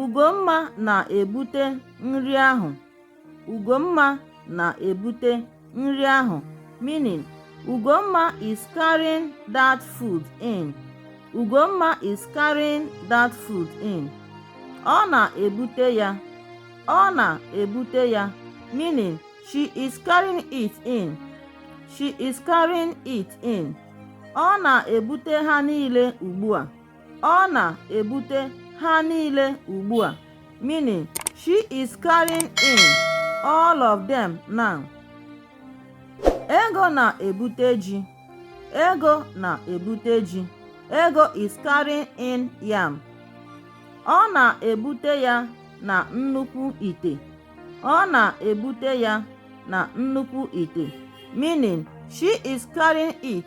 Ugomma na-ebute nri ahụ. Ugomma na-ebute nri ahụ meaning Ugomma is carrying that food in. Ugomma is carrying that food in. Ọ na-ebute ya. Ọ na-ebute ya meaning she is carrying it in. She is carrying it in. Ọ na-ebute ha niile ugbu a. Ọ na-ebute ha niile ugbu a, meaning she is carrying in all of them now. Ego na-ebute ji. Ego na-ebute ji. Ego is carrying in yam. Ọ na-ebute ya na nnukwu ite. Ọ na-ebute ya na nnukwu ite, meaning she is carrying it